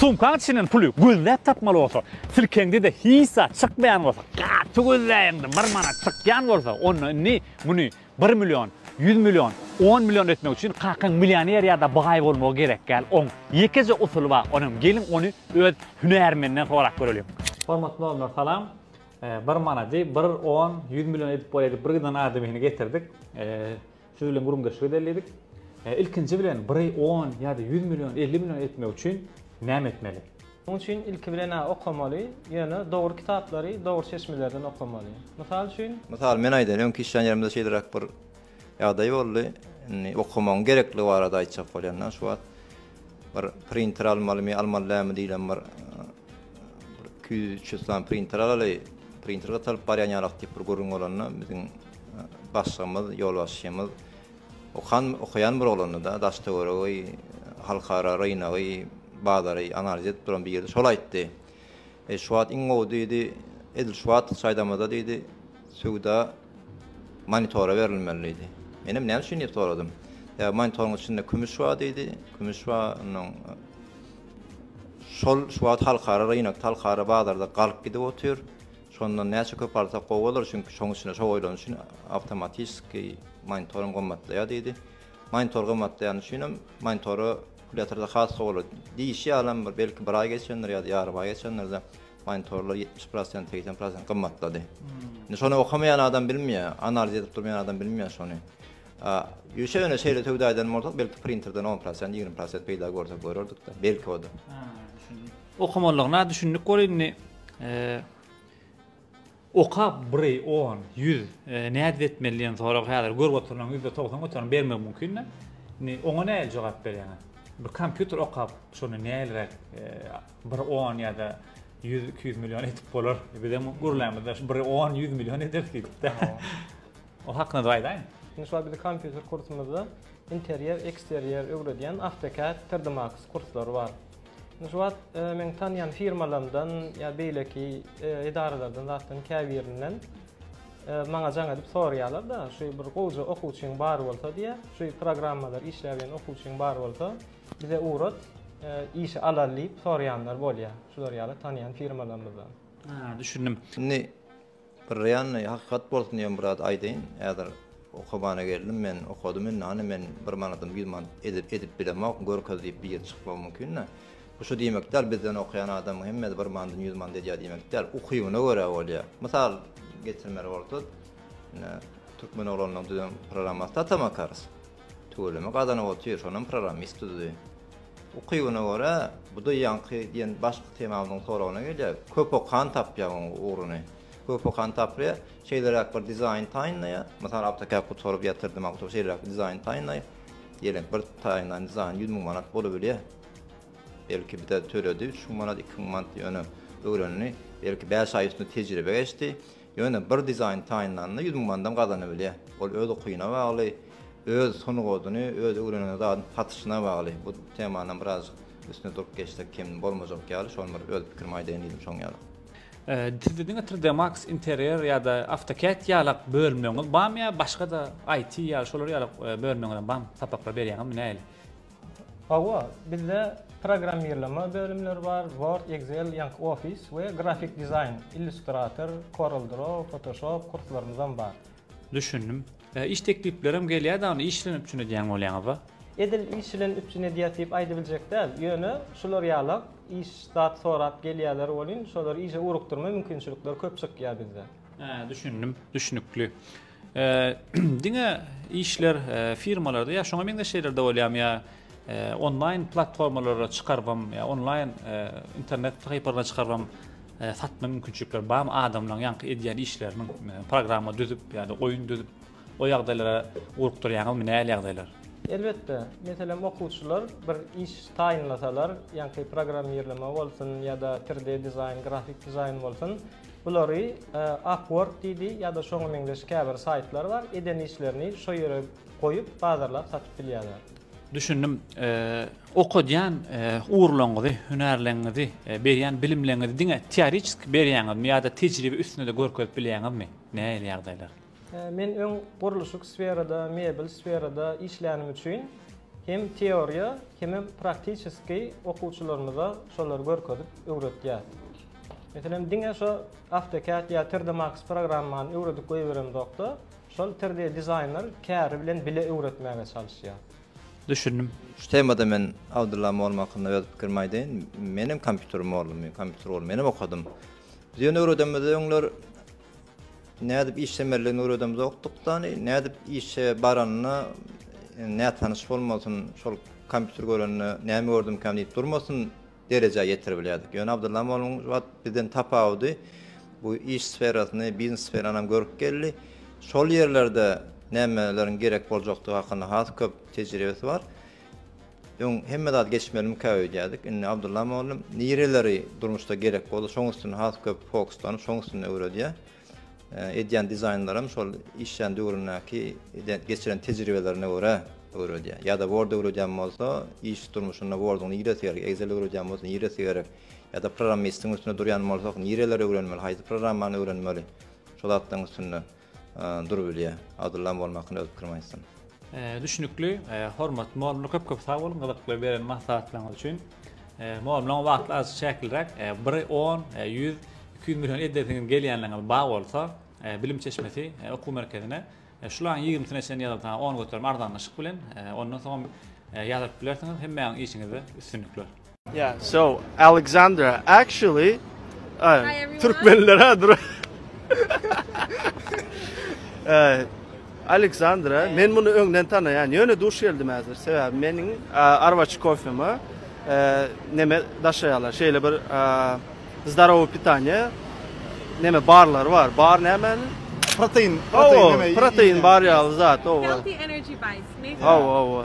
Sumkaň içinden puly gözläp tapmaly bolsa, silkeňde-de hiç zat çykmaýan bolsa, gaty gözläýeňde bir manat çykýan bolsa, onda indi muny bir million, ýüz million, on million etmek üçin kakaň millioner ýa-da baý bolmagy gerek däl. Oň ýekeje usuly bar, onam geliň ony öz hünärmeninden sorap göreliň. Hormatly doganlar salam. Bir manady bir on, ýüz million edip bolaýdy, bir gyzdan adamyny getirdik. Siz bilen gürrüňdeşlik edeli diýdik. Ilkinji bilen biri on ýa-da ýüz million, elli million etmek üçin näme etmeli? Munuň üçin ilki bilen-ä okamaly, ýöne dogry kitaplary dogry çeşmelerden okamaly. Mysal üçin. Mysal men aýdaýyn, öňki işlän ýerimde şeýleräk bir ýagdaý boldy. Indi okamagyň gerekligi barada aýtjak bolýan-da şu wagt. Bir printer almalymy, almaly dälmi diýlem bir iki ýüz, üç ýüz sany printer alaly, printer gytalyp barýan ýalak diýip bir gürrüň bolanda, biziň başlygymyz, ýolbaşçymyz okan, okaýan bir oglandy-da, daş-töweregi, halkara rynagy, bazary analiz edip duran bir ýerdi, şol aýtdy. E, şu wagt iň gowy diýdi, edil şu wagt çaýdamada diýdi, söwda monitora berilmeli diýdi. Menem näme üçin diýip soradym. Ýa monitoryň içinde kümüş bar diýdi, kümüş bar, ondan şol şu wagt halkara rynak, halkara bazarda galyp gidip otyr. Şondan näçe köp alsak gowy bolar, çünki şoň üçin şo goýlan üçin awtomatiki monitorum gymmatlaýar diýdi. Monitor gymmatlaýan üçin hem monitora Kulýatorda has sowly diýişi ýalam bir belki bir aý geçendir ýa-da ýarym aý geçendir-de monitorlar ýetmiş prosent, segsen prosent gymmatlady. Indi şony okamaýan adam bilmeýär, analiz edip durmaýan adam bilmeýär şony. Ýöşe ýöne şeýle söwda eden bolsak belki printerden on prosent, ýigrimi prosent peýda görsek görerdik-de, belki o-da. Okamalygyna düşündik bol indi. Okap bri on ýüz nädip etmeli diýen sorag häzir görüp oturylan ýüzde togsan göterim bermegi mümkin de indi oňa nähili jogap berýäňiz bir kompýuter okap şony nähiliräk bri on ýada ýüz iki ýüz million edip bolar bizem gürlämizde şu bri on ýüz million eder diýipde o hakynada aýdaýyň indi şu wagt biziň kompýuter kursumyzda interýer eksterýer öwredýän awtokad trdmax kurslary bar. Şu wagt meň tanýan firmalarymdan ýa beýleki edaralardan zatdan käbirinden maňa jaň edip soraýarlar-da, şu bir gowja okuwçyň bar bolsa diýýä, şu programmalar işläp bilen okuwçyň bar bolsa, bize ugrat, işe alar diýip soraýanlar bolýa, şular ýaly tanýan firmalarymyzdan. Düşündim. Indi Bir reanny hakykat bolsun diýen biraz aýdaýyn. Häzir okabana geldim men, okadym indi hany men bir manadym, ýüz manat edip edip bilemok, görkez diýip bir ýere çykmagym mümkin-de. Bu şu diýmek däl, bizden okaýan adamyň hemmesi bir manadym, ýüz manat edýär diýmek däl. Ukybyna görä bolýar. Mysal getirmeli bolsak, ine, türkmen oglanlaryň düzen programmasy Tata Makaros. Tüweleme gazanyp otyr, şonam programmist düzdi. Ukybyna görä, bu-da ýaňky diýen başky temamyzyň soragyna gelýär. Köp okan tapýar onuň ugruny. Köp okan tapýar, şeýleräk bir dizaýn taýynlaýar. Mysal, AutoCAD gutaryp ýatyrdy, maňa oturyp şeýleräk bir dizaýn taýynlaý. Diýeliň, bir taýynlan dizaýny ýüz müň manat bolubilýär. Belki bir-ä töredi, üç müň manat, iki müň manat ýöne öwrendi. Belki bäş aý üstünde tejribe geçdi. Ýöne bir dizaýn taýynlanda ýüz müň mandan gazanybilýär. Ol öz ukyna bagly, öz sungatyny, öz öwrenen zadyny satyşyna bagly. Bu temanam birazjyk üstünde durup geçsek kem bolmajak ýaly. Şony bir öz pikirimi aýdaýyn diýdim şoň ýaly. Sizde diňe Tride Max Interior ýa-da AutoCAD ýalak bölümleriňiz barmy ýa başga-da IT ýaly şolar ýalak bölümleriňizem barmy? Sapaklar berýäňizmi nähili? Hawa, bizde programmirleme bölümleri bar, Word, Excel, ýaňky Office we grafik dizaýn, Illustrator, Corel Draw, Photoshop kurslarymyzam bar. Düşündim. Iş tekliplerem gelýä da ony iş bilen üpjün edýän bolýaňyza? Edil iş bilen üpjün edýäs diýip aýdybiljek däl, ýöne şular ýalak iş zat sorap gelýäler welin şolary işe ugrukdyrma mümkinçilikler köp çykýa bizde. Hä, düşündim, düşnükli. Diňe işler firmalarda ýa şoňa meňzeş ýerlerde bolýarmy ýa onlaýn platformalara çykarybam ýa onlaýn internet sahypalaryna çykarybam satma mümkinçilikleri barmy adamlaryň ýaňky edýän işleriniň programma düzüp ýa-da oýun düzüp o ýagdaýlara ugrukdyrýaňyzmy nähili ýagdaýlar? Elbetde, meselem okuwçylar bir iş taýynlasalar, ýaňky programmirleme bolsun ýa-da 3D dizaýn, grafik dizaýn bolsun, Bulary Upwork diýdi ýa-da şoňa meňzeş käbir saýtlar bar, eden işlerini şo ýere goýup bazarlap satyp bilýärler. Düşündim. Okadýan ugurlaňyzy, hünärleňňizi, berýän bilimleňňizi diňe teoriçeski berýäňizmi ýa-da tejribe üstünde-de görkezip bilýäňizmi? Nähili ýagdaýlar? Men öň gurluşyk sferada, mebel sferada işlänim üçin hem teoriýa, hemem praktiçeskiý okuwçylarymyza şolary görkezip öwretýäs. Meselem, diňe şo AutoCAD ýa 3D Max programmany öwredip goýberemzok-da, şol 3D dizaýner käri bilen bile öwretmäge çalyşýas. Düşündim. Şu temada men Abdylla mugallym hakynda öz pikirimi aýdaýyn. Menem kompýuter mugallymy, kompýuter ugrundan menem okadym. Biz ýöne öwredemizde öňler Nädip işlemelidigini öwredemzokdykdany, nädip işe baranyna nätanyş bolmasyn, şol kompýuter görende näme gördümkäm diýip durmasyn derejä ýetiribilýärdik. Ýöne Abdylla moluň şu wagt bizden tapawudy bu iş sferasyny, biznes sferanam görüp geldi. Şol ýerlerde nämeleriň gerek boljakdygy hakynda has köp tejribesi bar. Öň hemme zat geçmelimikä öýdýärdik, indi Abdulla mugallym nireleri durmuşda gerek bolsa şoň üstüne has köp fokuslanyp şoň üstünde öwredýär. Edýän dizaýnlaram şol işlän döwründäki geçiren tejribelerine görä öwredýär. Ýa-da word öwredýän bolsa iş durmuşynda worduň niresi gerek, excel öwredýän bolsa niresi gerek, ýa-da programmistiň üstünde durýan bolsak nireleri öwrenmeli, haýsy programmany öwrenmeli şo zatlaryň üstünde. Dur bilýä. Abdullam bolmakyny öz pikirim aýtsyn. Düşnükli, hormatly mugallymlar köp köp sag boluň gyzykly beren maslahatlaryňyz üçin. Mugallymlaryň wagty azajyk çäkliräk, biri on, ýüz, iki ýüz million edesiňiz gelýänleriňiz bar bolsa, bilim çeşmesi okuw merkezine şularyň ýigrimisine çenli ýazyp ha on göterim arzanlaşyk bilen ondan soňam ýazyryp bilersiňiz. Hemmäňiz işiňizde üstünlikler. Yeah, so Alexandra actually uh, Türkmenlere dur. uh, Alexandra, men bunu öňden tanaýan. Ýöne duş geldim häzir. Sebäbi meniň uh, arwaçy kofemi uh, neme daşaýarlar. Şeýle bir uh, zdarowy pitaniýe neme barlar bar. Bar näme? Protein, protein, oh, neme? Protein bar ýaly zat, o. Healthy energy bites, maybe. Oh, oh, oh.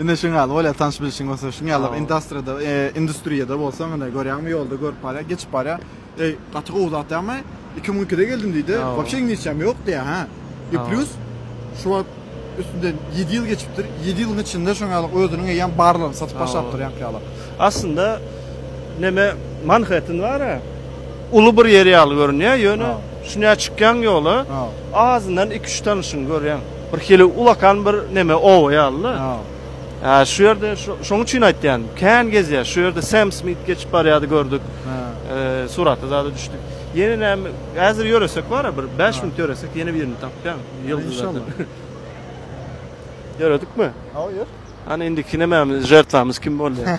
Ine şuň ýaly bolýar tanyş bilişiň bolsa şuň ýaly indastriýada industriýada bolsa ine görýäňmi ýolda görüp barýar geçip barýar eý gaty gowy zat ýagny iki müň ikide geldim diýdi wobşe iňlisçäm ýok diýýär hä i plýus şu wagt üstünden ýedi ýyl geçipdir ýedi ýylyň içinde şuň ýaly özüniň eýýäm barlaryny satyp başlapdyr ýaňky ýaly aslynda neme manhetten bara uly bir ýer ýaly görünýär ýöne şuňa çykýaň ýola azyndan iki üç tanyşyňy görýäň. Bir hili ulakan bir neme oba ýalyda. Hä, şu ýerde şoň üçin aýtýan, kän gezýär. Şu ýerde Sam Smit geçip barýardy gördük. Eee, surata zada düşdük. Ýene näme, häzir ýöresek bara bir 5 minut ýöresek ýene birini tapýan. Ýyldyzlardan. Ýöredikmi? Hawa, ýör. Hany indiki nämemiz, žertwamyz kim bolýar?